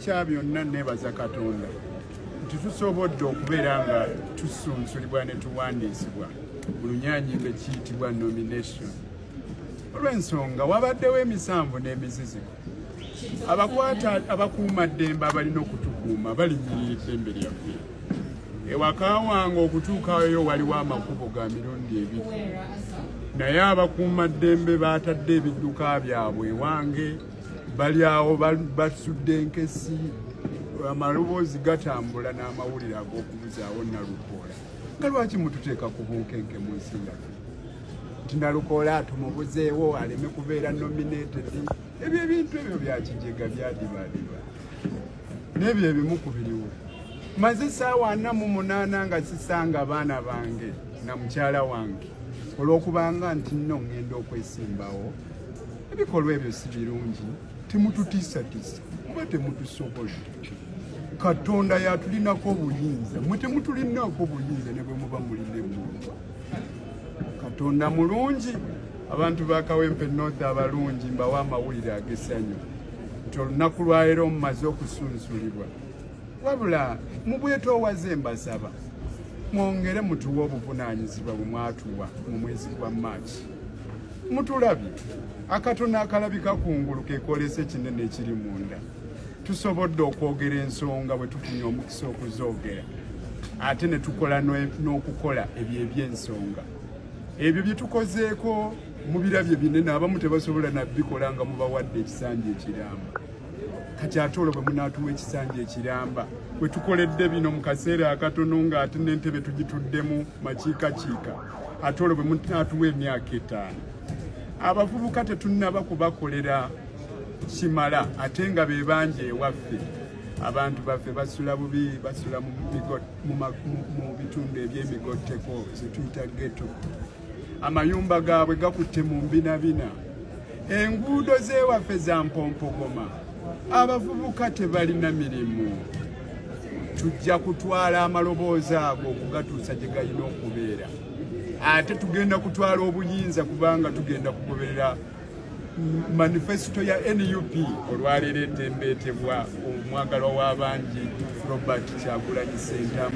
kya byonna nebaza katonda nti tusobodde okubeera nga tusunsulibwa ne tuwandiisibwa mu lunyanyimbo ekiyitibwa nomination olw'ensonga wabaddewo emisanvu n'emiziziko abakwata abakuuma ddembe abalina okutukuuma balinyirira eddembe lyaffe ewaka wange okutuukayo waliwo amakubo ga mirundi ebiri naye abakuuma ddembe baatadde ebidduka byabwe ewange bali awo basudde enkesi amaloboozi gatambula n'amawulire ag'okubuzaawo nalukoola nga lwaki mututeeka ku bunkenke mu nsi yaffe nti nalukoola tumubuzeewo aleme kubeera nominated ebyo ebintu ebyo byakijega byadibadiba n'ebyo ebimu ku biriwo maze saawa ana mu munaana nga sisanga abaana bange na mukyala wange olw'okubanga nti nno ŋŋenda okwesimbawo ebikolwa ebyo si birungi temututiisatiisa kuba temutusobola katonda yatulinako obuyinza mwe temutulinako obuyinza ne bwe muba mulinemu katonda mulungi abantu ba kawempe north abalungi mbawa amawulire agesanyu nti olunaku lwaleero mumaze okusunsulibwa wabula mubwetoowaze mbasaba mwongere mutuwe obuvunaanyizibwa bwe mwatuwa mu mwezi gwa maaki mutulabye akatono akalabika ku ngulu kekolesa ekinene ekiri munda tusobodde okwogera ensonga bwe tufunye omukisa okuzoogera ate ne tukola n'okukola ebyo eby'ensonga ebyo bye tukozeeko mu birabye binene abamu tebasobola nabikola nga mubawadde ekisanja ekiramba kati ate olwo bwe munaatuwa ekisanja ekiramba bwe tukoledde bino mu kaseera akatono ng'ate n'entebe tugituddemu makiikakiika ate olwo bwe munaatuwa emyaka etaano abavubuka tetunnaba kubakolera kimala ate nga be bangi ewaffe abantu baffe basula bubi basula mu bitundu ebyemigotteko zetuyita geto amayumba gaabwe gakutte mu mbinabina enguudo z'ewaffe za mpompogoma abavubuka tebalina mirimu tujja kutwala amaloboozi ago okugatuusa gye galina okubeera ate tugenda kutwala obuyinza kubanga tugenda kugoberera manifesito ya nup olwaleero etembeetebwa omwagalwa w'abangi robert kyagulanyi sentamu